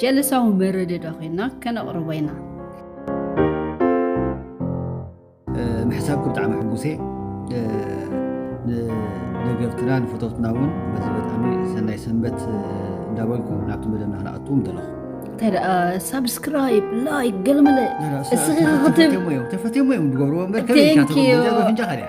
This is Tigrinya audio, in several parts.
ጀልሳዊ መረድዶ ኮይና ከነቕርቦ ኢና። ምሕሳብኩ ብጣዕሚ ሕጉሴ ንደገፍትና ንፈተውትና እውን በዚ በጣሚ ሰናይ ሰንበት እንዳበልኩ ናብቲ መደብና ክነኣቱ ምደለኹ እንተ ደኣ ሳብስክራይብ ላይክ ገልመለ እስኺ ክትብ ተፈትሞ እዮም ዝገብርዎ እምበር ከመይ ኢልካ ተፍንጫኻ ድያ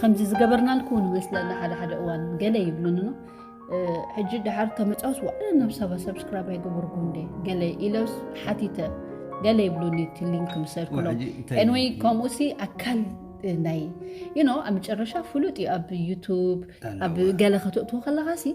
ከምዚ ዝገበርናልኩ ንመስለና ሓደ ሓደ እዋን ገለ ይብሉንኖ ሕጂ ድሓር ከመፃውስ ዋዕለ ናብ ሰባ ሰብስክራይብ ኣይገበርኩ እንደ ገለ ኢለውስ ሓቲተ ገለ ይብሉኒ እቲ ሊንክ ምሰርክሎም ኤንወይ ከምኡሲ ኣካል ናይ ዩኖ ኣብ መጨረሻ ፍሉጥ እዩ ኣብ ዩቱብ ኣብ ገለ ከተእትዎ ከለካ ሲ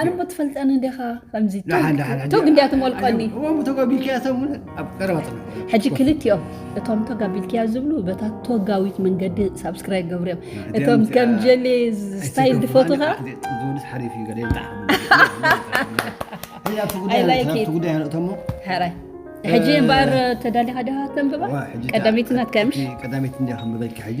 ኣነሞ ትፈልጠኒ ዲኻ ከምዚ ቶግ እንዲያ ትመልቀኒ ሕጂ ክልቲኦም እቶም ቶግ ኣቢልክያ ዝብሉ በታ ቶጋዊት መንገዲ ሳብስክራይብ ገብሩ እዮም እቶም ከም ጀሌ ስታይል ዝፈትኻ ሕጂ እምበኣር ተዳሊኻ ዲኻ ተንብባ ቀዳመይቲ ናትካ ምሽ ቀዳመይቲ እንዲያ ከንብበልኪ ሕጂ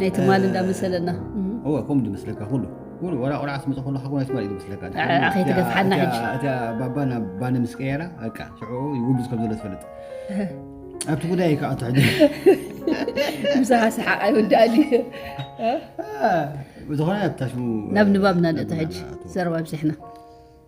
ናይ ትማል እንዳ መሰለና እወ ከምኡ ዝመስለካ ኩሉ ኩሉ ወላ ቆልዓ ስመፀ ከሎ ሓጎ ናይ ትማል እዩ ዝመስለካ ኣኸይ ትገፍሓና ሕጂ እቲያ ባባ ናብ ባኒ ምስ ቀየራ በቃ ሽዑ ይውግዝ ከም ዘሎ ትፈልጥ ኣብቲ ጉዳይ ይከኣቶ ሕጂ ምሳኻ ሰሓቕ ኣይወዳእን እዩ ዝኾነ ኣብታ ሽሙ ናብ ንባብና ንእቶ ሕጂ ዘረባ ብዚሕና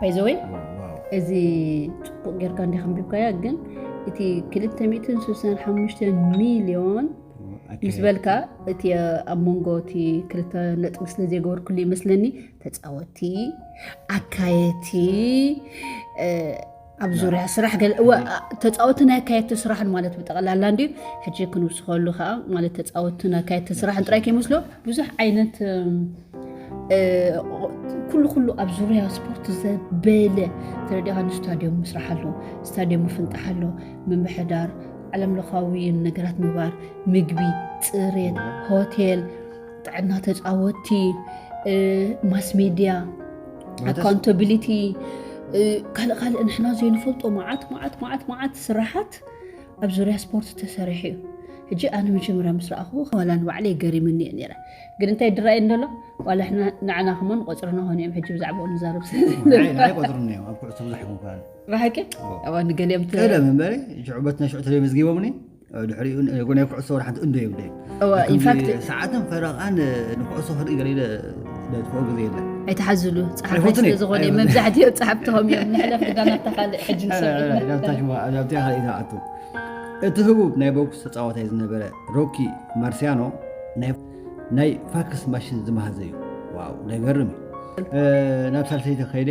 ባይዘወይ እዚ ፅቡቅ ጌርካ እንዲ ከንቢብካያ ግን እቲ 265 ሚሊዮን ምስ በልካ እቲ ኣብ መንጎ እቲ ክልተ ነጥቢ ስለ ዘይገበርኩሉ ይመስለኒ ተፃወቲ ኣካየቲ ኣብ ዙርያ ስራሕ ተፃወትን ኣካየድቲ ስራሕን ማለት ብጠቕላላ እንዲ ሕጂ ክንውስኸሉ ከዓ ማለት ተፃወትን ኣካየድቲ ስራሕን ጥራይ ከይመስሎ ብዙሕ ዓይነት ኩሉ ኩሉ ኣብ ዙርያ ስፖርት ዘበለ ተረዲኻ ንስታድዮም ምስራሕ ኣሎ ስታድዮም ምፍንጣሕ ኣሎ ምምሕዳር ዓለም ለኻዊ ነገራት ምግባር ምግቢ ፅሬት ሆቴል ጥዕና ተፃወቲ ማስሜድያ ኣካውንታቢሊቲ ካልእ ካልእ ንሕና ዘይንፈልጦ መዓት መዓት መዓት መዓት ስራሓት ኣብ ዙርያ ስፖርት ተሰሪሑ እዩ ሕጂ ኣነ መጀመርያ ምስ ረኣኹ ዋላ ንባዕለይ ገሪምኒ እየ ነረ ግን እንታይ ድራእየ እንደሎ ዋላ ሕና ንዓና ክሞን ቆፅርና ኾኑ እዮም ሕጂ ብዛዕባኡ ንዛረብ ስለዘይቆፅርኒ እዮም ኣብ ኩዕሶ ብዙሕ ይኹን ብሓቂ ንገሊኦም ቀደም እምበሪ ሽዑ በትና ሽዑ ተለይ መዝጊቦምኒ ድሕሪኡ ናይ ኩዕሶ ወር ሓንቲ እንዶ የብለይን ሰዓትን ፈረቓን ንኩዕሶ ክርኢ ገለ ለጥፍኦ ግዜ የለን ኣይተሓዝሉ ፀሓፋይ ስለ ዝኾነ መብዛሕትኦ ፀሓፍትኸም እዮም ንሕለፍ ድጋ ናብታ ካልእ ሕጂ ንሰብናብታ ካልእ ተኣቱ እቲ ህቡብ ናይ ቦክስ ተፃዋታይ ዝነበረ ሮኪ ማርሲያኖ ናይ ፋክስ ማሽን ዝመሃዘ እዩ ዋው ነገርም እዩ ናብ ሳልሰይቲ ከይደ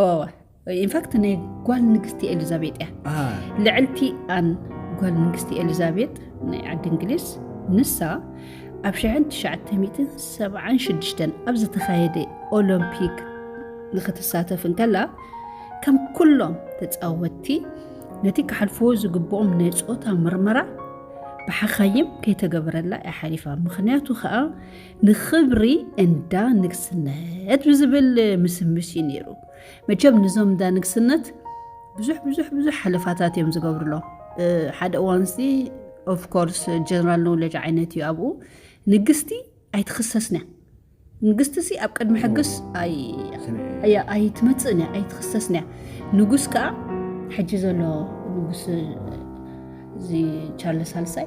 እወ ኢንፋክት ናይ ጓል ንግስቲ ኤሊዛቤጥ እያ ልዕልቲ ኣን ጓል ንግስቲ ኤሊዛቤጥ ናይ ዓዲ እንግሊዝ ንሳ ኣብ 1976 ኣብ ዝተኻየደ ኦሎምፒክ ንክትሳተፍ እንከላ ከም ኩሎም ተፃወትቲ ነቲ ክሓልፍዎ ዝግብኦም ናይ ፆታ ምርመራ ብሓኻይም ከይተገበረላ እያ ሓሊፋ ምክንያቱ ከዓ ንኽብሪ እንዳ ንግስነት ብዝብል ምስምስ እዩ ነይሩ። መቸም ንዞም እንዳ ንግስነት ብዙሕ ብዙሕ ብዙሕ ሓለፋታት እዮም ዝገብርሎም። ሓደ እዋንሲ ኦፍኮርስ ጀነራል ኖውለጅ ዓይነት እዩ ኣብኡ ንግስቲ ኣይትኽሰስን እያ ንግስቲ ሲ ኣብ ቅድሚ ሕግስ ኣይትመፅእን እያ ኣይትኽሰስን እያ ንጉስ ከዓ ሕጂ ዘሎ ንጉስ እዚ ቻርለስ ሳልሳይ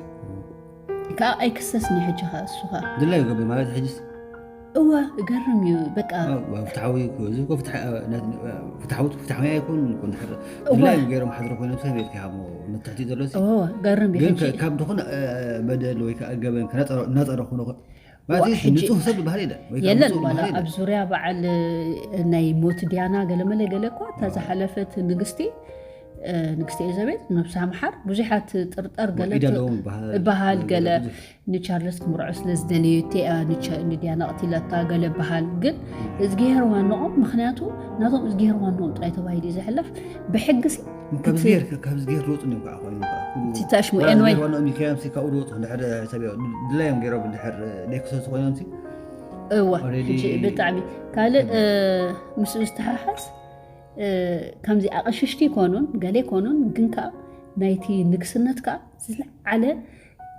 ከኣ ኣይክሰስኒ ሕጂ ከኣ እሱ ከኣ ድላይ ገቢ ማለት ሕጅስ እወ እገርም እዩ በቃ ፍትሓዊ እዚ እኮ ፍትሓዊ ፍትሓዊ ኣይኮን እኮ እንድሕር ድላይ ገይሮም ሓድሮ ኮይኖም ሰብ ቤት ክሃቦ ንትሕቲ ዘሎ ገርም ግን ካብ ዝኾነ በደል ወይ ከዓ ገበን እናፀረ ክኾኑ የለን ዋላ ኣብ ዙርያ በዓል ናይ ሞት ድያና ገለመለ ገለ እኳ እታ ዝሓለፈት ንግስቲ ንግስቲ ኤዘቤል ነብሳ ምሓር ብዙሓት ጥርጠር ገለ በሃል ገለ ንቻርለስ ክምርዖ ስለ ዝደለየት እያ ንድያና ቅትለታ ገለ በሃል ግን እዝጊሄር ዋንኦም ምክንያቱ ናቶም እዝጊሄር ዋንኦም ጥራይ ተባሂሉ እዩ ዝሕለፍ ብሕጊ ከምዚ ጌርካ ከምዚ ጌር ሩፅ ኒ ከዓ ኮይኑ ትታሽ ሙኤን ወይ ሆኖም ይከዮም ካብኡ ሩፅ ድሕር ሰብ ድላዮም ገይሮም ድሕር ደክሰሱ ኮይኖም እዋ ብጣዕሚ ካልእ ምስኡ ዝተሓሓዝ ከምዚ ኣቐሽሽቲ ይኮኑን ገሌ ይኮኑን ግን ከዓ ናይቲ ንግስነት ከዓ ዝለዓለ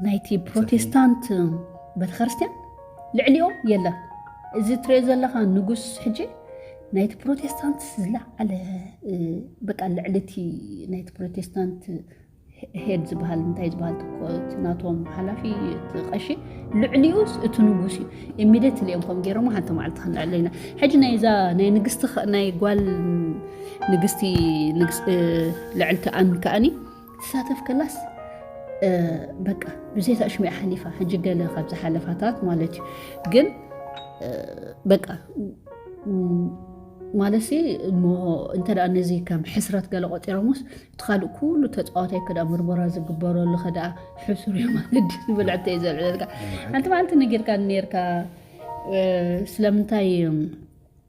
ናይቲ ፕሮቴስታንት ቤተክርስትያን ልዕሊኦም የለን። እዚ ትሪኦ ዘለኻ ንጉስ ሕጂ ናይቲ ፕሮቴስታንት ዝለዓለ በቃ ልዕሊ እቲ ናይቲ ፕሮቴስታንት ሄድ ዝበሃል እንታይ ዝበሃል ናቶም ሓላፊ እቲ ቀሺ ልዕሊኡስ እቲ ንጉስ እዩ ኢሚደት ልኦም ከም ገይሮሞ ሓንቲ መዓልቲ ክንልዕለ ኢና ሕጂ ናይዛ ናይ ንግስቲ ናይ ጓል ንግስቲ ልዕልቲ ኣን ከኣኒ ትሳተፍ ከላስ በቃ ብዘይታ ኣሽሚያ ሓሊፋ ሕጂ ገለ ካብ ዝሓለፋታት ማለት እዩ ግን በቃ ማለት እሞ እንተ ነዚ ከም ሕስረት ገለ ቆጢሮምስ እቲ ካልእ ኩሉ ተፃዋታይ ከዳ ምርመራ ዝግበረሉ ከደኣ ሕሱር እዩ ማለት ዝበልዕተ እዩ ዘልዕለልካ ሓንቲ መዓልቲ ነጊርካ ነርካ ስለምንታይ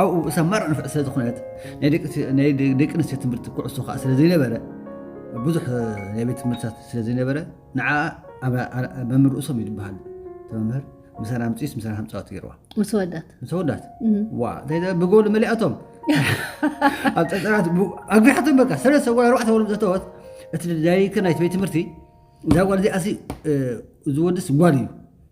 ኣብኡ እሰማር ዕንፍዕ ስለ ዝኾነት ናይ ደቂ ኣንስትዮ ትምህርቲ ኩዕሶ ከዓ ስለ ዘይነበረ ብዙሕ ናይ ቤት ትምህርትታት ስለ ዘይነበረ ንዓ መምህር ርእሶም እዩ ዝበሃል መምህር ምሳና ምፅስ ምሳና ከምፃወት ገይርዋ ምስ ወዳት ምስ ወዳት ዋ ብጎል መሊኣቶም ኣብ ፀፀራት ኣግቢሓቶም በቃ ሰለስተ ጓል ኣርባዕተ ወሎም ዘተወት እቲ ዳይሬክተር ናይቲ ቤት ትምህርቲ እዛ ጓል እዚኣ እዚ ወድስ ጓል እዩ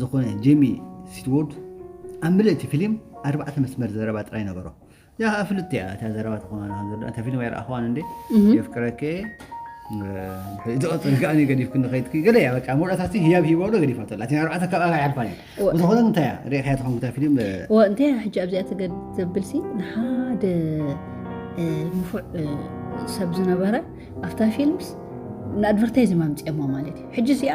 ዝኾነ ጄሚ ሲትዎርድ ኣብ ምልእ እቲ ፊልም ኣርባዕተ መስመር ዘረባ ጥራይ ነበሮ እዚኣ ከዓ ፍልጥቲ እያ እታ ዘረባ ተኾና ከምዘሎ እታ ፊልም ኣይረኣኽዋን እንዴ የፍቅረከ ዝቐፅል ከኣ ገዲፍክ ንኸይድክ ገለ እያ በቃ መውዳእታሲ ህያብ ሂቦ ዶ ገዲፋቶ ኣላ እቲን ኣርባዕተ ካብ ኣባይ ሓልፋን እዩ ዝኾነ እንታይ እያ ሪእኻያ ትኸውን ክታ ፊልም እንታይ እያ ሕጂ ኣብዚኣ ትገድ ዘብልሲ ንሓደ ንፉዕ ሰብ ዝነበረ ኣብታ ፊልምስ ንኣድቨርታይዝ ማምፅኦማ ማለት እዩ ሕጂ እዚኣ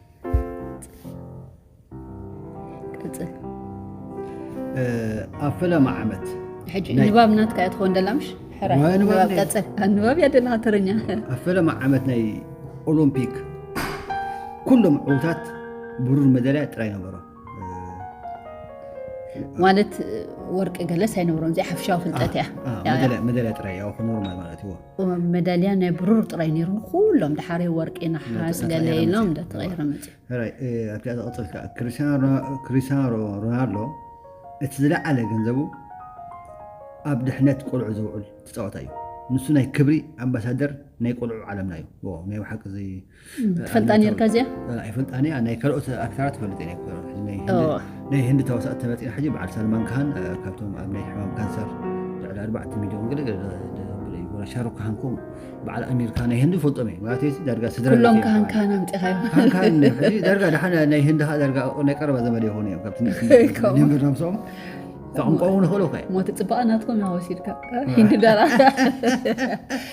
ቀጽል ኣብ ፈለማ ዓመት ሕጂ ንባብ ናትካ እያ ትኸውን ደላ ምሽ ሕራይ ዋይ ንባብ ንባብ ድየ? ቀጽል ንባብ እያ ደላ ተረኛ ኣብ ፈለማ ዓመት ናይ ኦሎምፒክ ኩሎም ዕውታት ብሩር መዳልያ ጥራይ ነበሮም ማለት ወርቂ ገለስ ኣይነብሮም እዚ ሓፍሻዊ ፍልጠት እያ መዳልያ ጥራይ ያው ኖርማል ማለት እዩ መዳልያ ናይ ብሩር ጥራይ ነይሩ ኩሎም ድሓሪ ወርቂ ነሓስ ገለ ኢሎም እንዳተቐይረ መፅዩ ኣብቲ ዝቐፅል ከዓ ክሪስቲያኖ ሮናልዶ እቲ ዝለዓለ ገንዘቡ ኣብ ድሕነት ቆልዑ ዘውዕል ተፃወታ እዩ ንሱ ናይ ክብሪ ኣምባሳደር ናይ ቆልዑ ዓለምና እዩ ናይ ብሓቂ ትፈልጣ ነርካ እዚኣ ኣይፈልጣኒ ናይ ካልኦት ኣክተራት ፈልጥ ናይ ህንዲ ተዋሳእቲ ተመፂና ሕጂ በዓል ሰልማን ካሃን ካብቶም ኣብ ናይ ሕማም ካንሰር ልዕሊ ኣርባዕተ ሚሊዮን ገለ ሻሩክ ካሃን ኮም በዓል ኣሜሪካ ናይ ህንዲ ፈልጦም እየ ማለት ዳርጋ ስድራሎም ካሃን ካሃን ኣምፂኻዮ ዳርጋ ድሓን ናይ ህንዲ ከዓ ዳርጋ ናይ ቀረባ ዘመድ ይኾኑ እዮም ካብቲ ንብርናም ሰኦም ቋንቋ እውን ይኽእሉ ሞት ፅባቐ ናትኩም ወሲድካ ሂንዲ ዳራ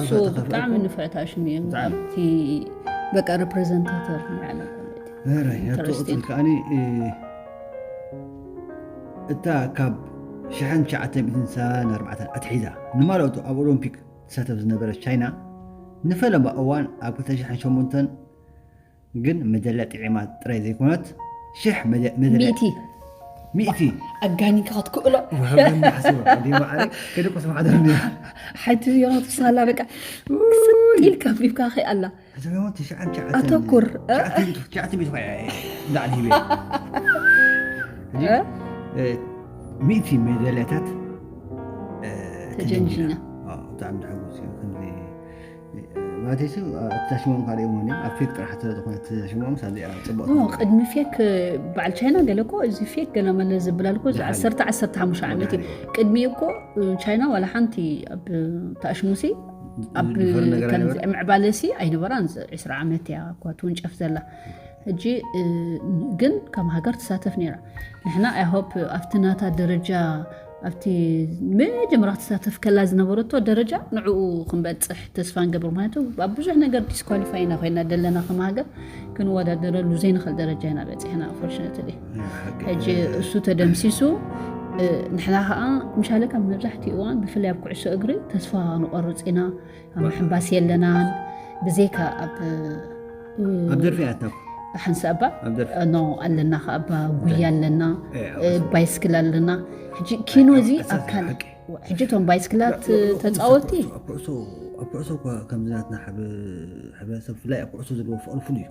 እሱ ብጣዕሚ ንፍዕ ታሽም እዩ እቲ በቃ ረፕሬዘንታተር ንዓለም ትረስቲን እታ ካብ 1994 ኣትሒዛ ንማለቱ ኣብ ኦሎምፒክ ትሳተፍ ዝነበረት ቻይና ንፈለማ እዋን ኣብ 2008 ግን መደለ ጥዒማ ጥራይ ዘይኮነት ሽሕ ሚእቲ ሚእቲ ኣጋኒንካ ክትክእሎ ሓይቲ ዮናት ሳላ በቃ ክሰጥ ኢልካ ቢብካ ከይ ኣላ ኣተኩር ሚእቲ መደለታት ተጀንጂና ብጣዕሚ ድሕጉስ እዩ ማለተይ ሲ እቲ ዛሽሞም ካልእ እውን እዮም ኣብ ፌክ ጥራሕ ስለዝኾነ እቲ ዛሽሞም ሳብዚኣ ፅቡቅ ኦ ቅድሚ ፌክ በዓል ቻይና ገለ እኮ እዚ ፌክ ገለ መለ ዝብላል እኮ ዝሓለፈ። ዓሰርተ ዓሰርተ ሓሙሽተ ዓመት እዩ ዝሓለፈ። ቅድሚ እኮ ቻይና ዋላ ሓንቲ ኣብ ተኣሽሙሲ ኣብ ዝፈሪ ነገር ከምዚ ኣይነበረ? ምዕባለሲ ኣይነበራን እዚ 20 ዓመት እያ እኳ ትውንጨፍ ዘላ ሕጂ እ፣ ግን ከም ሃገር ትሳተፍ ነይራ ንሕና ኣይሆፕ ኣብቲ ናታ ደረጃ ኣብቲ መጀመርያ ክትሳተፍ ከላ ዝነበረቶ ደረጃ ንዕኡ ክንበፅሕ ተስፋ ንገብር ምክንያቱ ኣብ ብዙሕ ነገር ዲስኳሊፋይ ኢና ኮይና ዘለና ከም ሃገር ክንወዳደረሉ ዘይንኽእል ደረጃ ኢና በፂሕና ኣንፎርሽነትሊ ሕጂ እሱ ተደምሲሱ ንሕና ከዓ ምሻለካ መብዛሕትኡ እዋን ብፍላይ ኣብ ኩዕሶ እግሪ ተስፋ ንቆርፅ ኢና ኣብ ምሕንባስ የለናን ብዘይካ ኣብ ኣብ ደርፊ ኣታኩ ሓንሳ እባ ኖ ኣለና ከዓ እባ ጉያ ኣለና ባይስክል ኣለና ሕጂ ኪኖ እዚ ኣብ ካልእ ሕጂ እቶም ባይስክላት ተፃወቲ ኣብ ኩዕሶ እኳ ከምዚ ናትና ሕብረተሰብ ብፍላይ ኣብ ኩዕሶ ዘለዎ ፍቅሪ ፍሉይ እዩ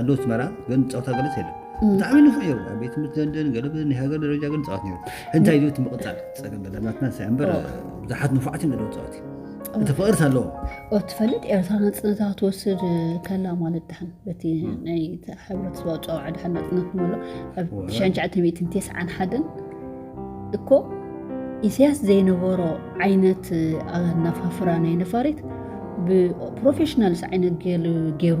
ኣዶ ኣስመራ ግን ፃውታ ገለፅ የለን ብጣዕሚ ንፉዕ እዩ ኣብ ቤት ትምህርቲ ለንደን ገለ ናይ ሃገር ደረጃ ግን ፃወት ነሩ እንታይ እዩ እቲ ምቕፃል ፀገም በላናትና ሳይ እምበር ብዙሓት ንፉዓት እዩ ነለዎ ፃወት እቲ ፍቕርት ኣለዎ ትፈልጥ ኤርትራ ናፅነታ ክትወስድ ከላ ማለት ድሓን በቲ ናይ ሕብረተሰባ ጨዋዓ ድሓን ናፅነት ንበሎ ኣብ 1991 እኮ ኢሳያስ ዘይነበሮ ዓይነት ኣናፋፍራ ናይ ነፋሪት ብፕሮፌሽናልስ ዓይነት ገይሩ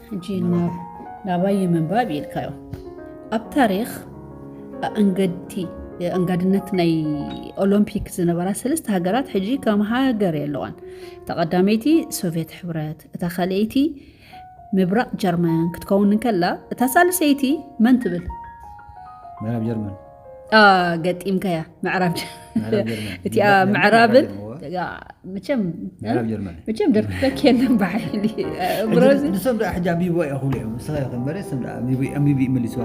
ሕጂ ናባይ ይምንባብ ኢልካዮ ኣብ ታሪክ ኣእንገድቲ ኣንጋድነት ናይ ኦሎምፒክ ዝነበራ ሰለስተ ሃገራት ሕጂ ከም ሃገር የለዋን እታ ቀዳመይቲ ሶቪየት ሕብረት እታ ካልኣይቲ ምብራቅ ጀርመን ክትከውን እንከላ እታ ሳልሰይቲ መን ትብል ምዕራብ ጀርመን ገጢምካያ ምዕራብ እቲኣ ምዕራብን መቸም ደርትፈ ኬለን ብሓይሊ ንሶም ደኣ ሕጂ ኣንቢብዋ እያ ክብሉ እዮም ንስኻ ይኸ በረ ስም ኣንቢቢ መሊስዋ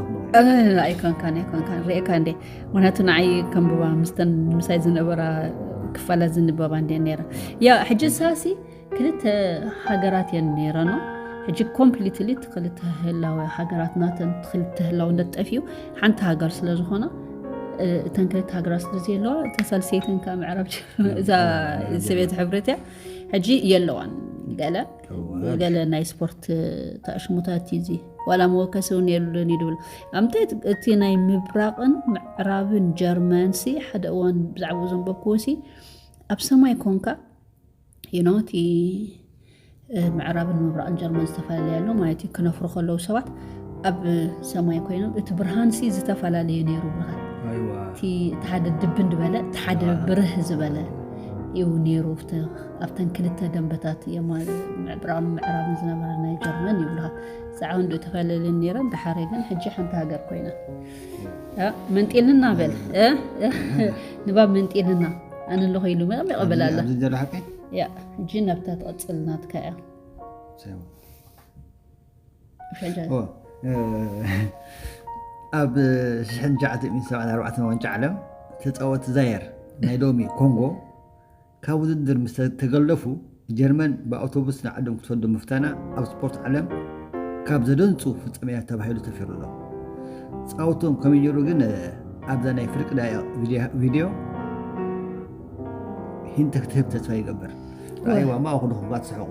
ኣይኮንካን ኣይኮንካን ርእካ እንዴ ምክንያቱ ንዓይ ከምብባ ምስተን ምሳይ ዝነበራ ክፋላት ዝንበባ እንዴ ነራ ያ ሕጂ ሳሲ ክልተ ሃገራት እየን ነይረኖ ሕጂ ኮምፕሊትሊ እቲ ክልተ ህላዊ ሃገራት ናተን ክልተ ህላውነት ጠፊኡ ሓንቲ ሃገር ስለ ዝኾነ እተን ክልተ ሃገራት ስለ ዘየለዋ እተን ሳልሰይተን ከዓ ምዕራብ እዛ ሰብየት ሕብረት እያ ሕጂ የለዋን ገለ ገለ ናይ ስፖርት ተኣሽሙታት እዩ እዚ ዋላ መወከሲ እውን የሉን እዩ ድብል ኣምታይ እቲ ናይ ምብራቕን ምዕራብን ጀርመንሲ ሓደ እዋን ብዛዕባ ዘንበብክዎሲ ኣብ ሰማይ ኮንካ ዩ ኖ እቲ ምዕራብን ምብራቕን ጀርመን ዝተፈላለየ ኣሎ ማለት እዩ ክነፍሩ ከለዉ ሰባት ኣብ ሰማይ ኮይኖም እቲ ብርሃን ሲ ዝተፈላለዩ ነይሩ ብርሃን እቲ ሓደ ድብ እንድበለ እቲ ሓደ ብርህ ዝበለ እዩ ነይሩ ኣብተን ክልተ ደንበታት ምዕብራን ምዕራብን ዝነበረ ናይ ጀርመን ይብልካ ዛዕባ እንዶ ተፈላለየን ነይረን ዳሓረ ግን ሕጂ ሓንቲ ሃገር ኮይና መንጢንና በል ንባብ መንጢንና ኣነ ኣለኹ ኢሉ መቐም ይቐበል ኣሎ እጂ ናብታ ትቐፅል ናትካ እያ ኣብ 1974 ዋንጫ ዓለም ተፃወቲ ዛየር ናይ ሎሚ ኮንጎ ካብ ውድድር ምስ ተገለፉ ጀርመን ብኣውቶቡስ ንዓዶም ክትሰዶም ምፍታና ኣብ ስፖርት ዓለም ካብ ዘደንጹ ፍጻሜታት ተባሂሉ ሰፊሩ ኣሎ። ጻውትኦም ከመይ ነይሩ ግን ኣብዛ ናይ ፍርቂ ደቂቕ ቪድዮ ሂንት ክትህብ ተስፋ ይገብር። ረኣይዋ እሞ ኣኹልኹም ክትስሕቑ።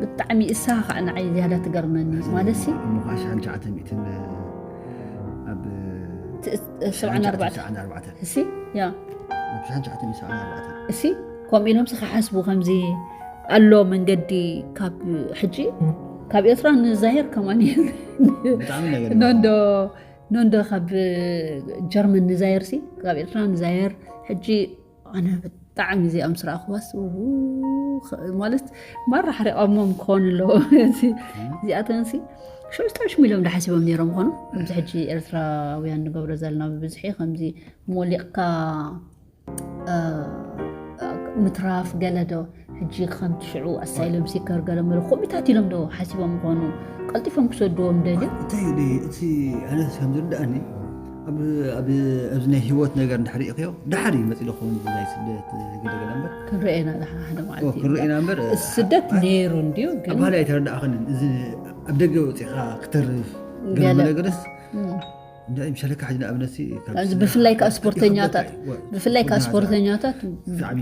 ብጣዕሚ እሳ ከዓ ንዓይ ዝያዳ ትገርመኒ ማለት ሲ ምዃሽ ዓን ሸዓተ ሚእትን ኣብ ሰብዓን ኣርባዕተ ሰዓን ኣርባዕተ እሲ ያ ኣብ ሸዓን ሸዓተ ሚእትን ሰዓን ኣርባዕተ እሲ ከምኡ ኢሎምሲ ክሓስቡ ከምዚ ኣሎ መንገዲ ካብ ሕጂ ካብ ኤርትራ ንዛሄር ከማን ብጣዕሚ ነገር ኖንዶ ኖንዶ ካብ ጀርመን ንዛየር ሲ ካብ ኤርትራ ንዛየር ሕጂ ኣነ ብጣዕሚ እዚኣ ምስ ረኣኽዋስ ማለት ማራ ሓሪቐሞም ክኾኑ ኣለዎ እዚኣተንሲ ሸሽታሽ ሚሎም ዳሓሲቦም ነይሮም ኾኑ ከምዚ ሕጂ ኤርትራውያን ንገብሮ ዘለና ብብዝሒ ከምዚ ሞሊቕካ ምትራፍ ገለዶ ሕጂ ከምቲ ሽዑ ኣሳይሎም ሲከር ገለ ምለ ኮሚታት ኢሎም ዶ ሓሲቦም ይኾኑ ቀልጢፎም ክሰድዎም ደልዮም እንታይ እዩ እቲ ኣነ ከም ዝርዳእኒ ኣብዚ ናይ ሂወት ነገር እንድሕር ሪእኽዮ ዳሓር እዩ መፅእ ዝኸውን ናይ ስደት ገለገለ እምበር ክንርኤና ሓደ መዓልቲ ክንርኤና እምበር ስደት ነይሩ እንድዩ ግን ባህል ኣይተረዳእኽንን እዚ ኣብ ደገ ወፂእኻ ክተርፍ ገለ ነገርስ ብፍላይ ከዓ ስፖርተኛታት ብፍላይ ከዓ ስፖርተኛታት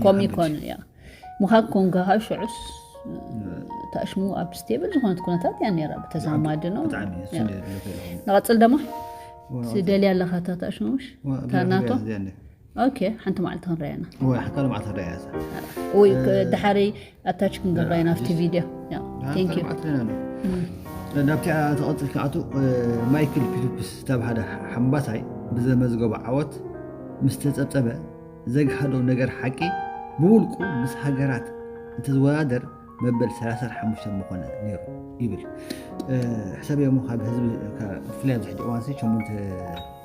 ኮም ይኮኑ እያ ምኻብ ኮንካ ካብ ሽዑስ ተኣሽሙ ኣብ ስቴብል ዝኾነት ኩነታት እያ ነራ ብተዛማዲ ነው ንቐፅል ደማ ትደልያ ኣለካ እታ ተኣሽሙ ምሽ ታናቶ ኦኬ ሓንቲ መዓልቲ ክንረኣያ ኢና ወይ ካልእ መዓልቲ ክንረኣያ እዛ ወይ ድሓረይ ኣታች ክንገብራ ኢና ኣብቲ ቪድዮ ቴንክ ዩ ናብቲ ተቐፅል ክኣቱ ማይክል ፊሊፕስ ዝተባሃለ ሓምባሳይ ብዘመዝገቦ ዓወት ምስ ተፀብፀበ ዘግሃዶ ነገር ሓቂ ብውልቁ ምስ ሃገራት እንትዝወዳደር መበል 35 ምኾነ ነይሩ ይብል ሕሰብ እሞ ካብ ህዝቢ ብፍላይ ኣብዚ ሕጂ እዋንሲ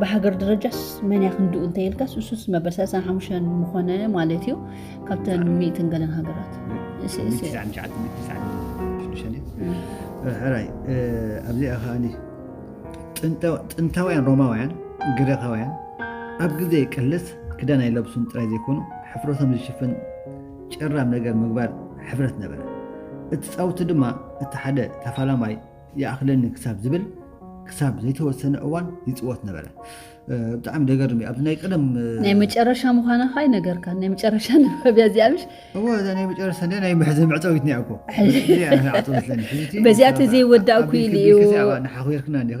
ብሃገር ደረጃስ መን እያ ክንድኡ እንተይልካስ እሱስ መበል 35 ምኾነ ማለት እዩ ካብተን ሚእትን ገለን ሃገራት ሕራይ ኣብዚኣ ከዓኒ ጥንታውያን ሮማውያን ግሪኻውያን ኣብ ግዜ ቅልስ ክዳን ኣይለብሱን ጥራይ ዘይኮኑ ሕፍረቶም ዝሽፍን ጭራም ነገር ምግባር ሕፍረት ነበረ እቲ ፃውቲ ድማ እቲ ሓደ ተፋላማይ ይኣኽለኒ ክሳብ ዝብል ክሳብ ዘይተወሰነ እዋን ይፅወት ነበረ። ብጣዕሚ ደገርም እዩ። ኣብዚ ናይ ቀደም ናይ መጨረሻ ምዃና ኸ ኣይነገርካን። ናይ መጨረሻ ንባብያ እዚኣ ምሽ እወ እዛ ናይ መጨረሻ እንደ ናይ ምሕዘ መዕፀዊት ኒያ እኮ በዚኣ ተዘይወዳእኩ ኢሉ እዩ ንሓኹርክና እንዲኺ